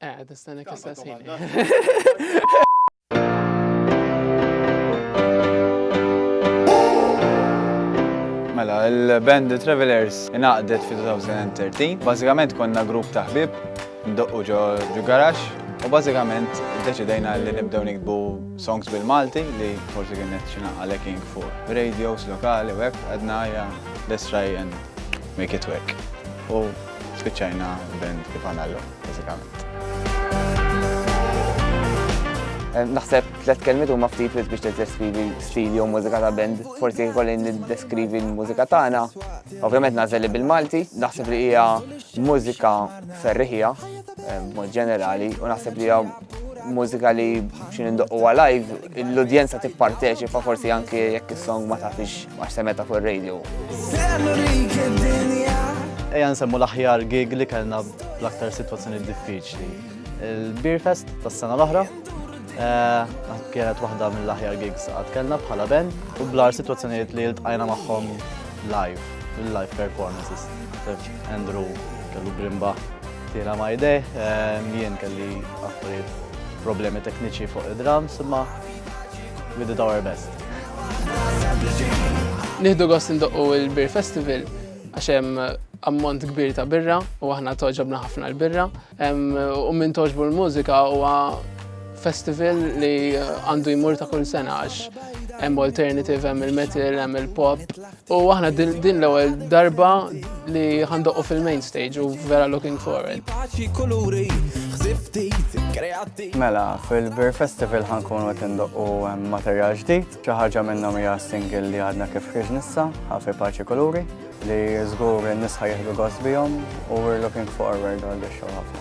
Eh, tistanek istessin. Mela, il-band The Travelers inaqdet fi 2013. Bażikament konna grupp ta' ħbib, ndoqqu ġo garax, u bażikament deċidejna li nibdew nikbu songs bil-Malti li forsi kien qed xina għalekin fuq radios lokali u hekk għadna ja let's try and make it work. Spiċċajna band kif għandna llum, bażikament. Naħseb tliet kelmiet huma ftit wis biex tiddeskrivi stil jew mużika ta' band. Forsi kolli niddeskrivi l-mużika tagħna. Ovvjament nażel bil-Malti, naħseb li hija mużika ferriħija mod ġenerali u naħseb li hija mużika li xin indoqqu live, l-udjenza tipparteċipa forsi anki jekk is-song ma tafix għax semeta fuq ir-radio. Ejja nsemmu l-aħjar gig li kellna bl-aktar situazzjoni diffiċli. Il-Beer Fest tas-sena l-oħra, eh, kienet waħda mill-aħjar gigs għad kellna bħala ben u blar situazzjonijiet li l-tqajna maħħom live, live performances. Andrew kellu brimba Tina my day, ehm, jien kelli affarijiet problemi tekniċi fuq id-drums, imma we did our best. Nieħdu gost indoqqu il-Beer Festival għax hemm ammont kbir ta' birra u aħna toġobna ħafna l-birra. Ehm, u minn toġbu l-mużika huwa festival li għandu jmur ta' kull sena għax hemm alternative, hemm il-metal, hemm il-pop, U aħna din l-ewwel darba li ħandoqu fil-main stage u vera looking forward. Mela, fil-Beer Festival ħankunu qed indoqqu materjal ġdid, xi ħaġa minnhom hija single li għadna kif ħriġ nissa, ħafi paċi kuluri, li żgur in-nisa jieħdu gost bihom u we're looking forward għal biex ħafna.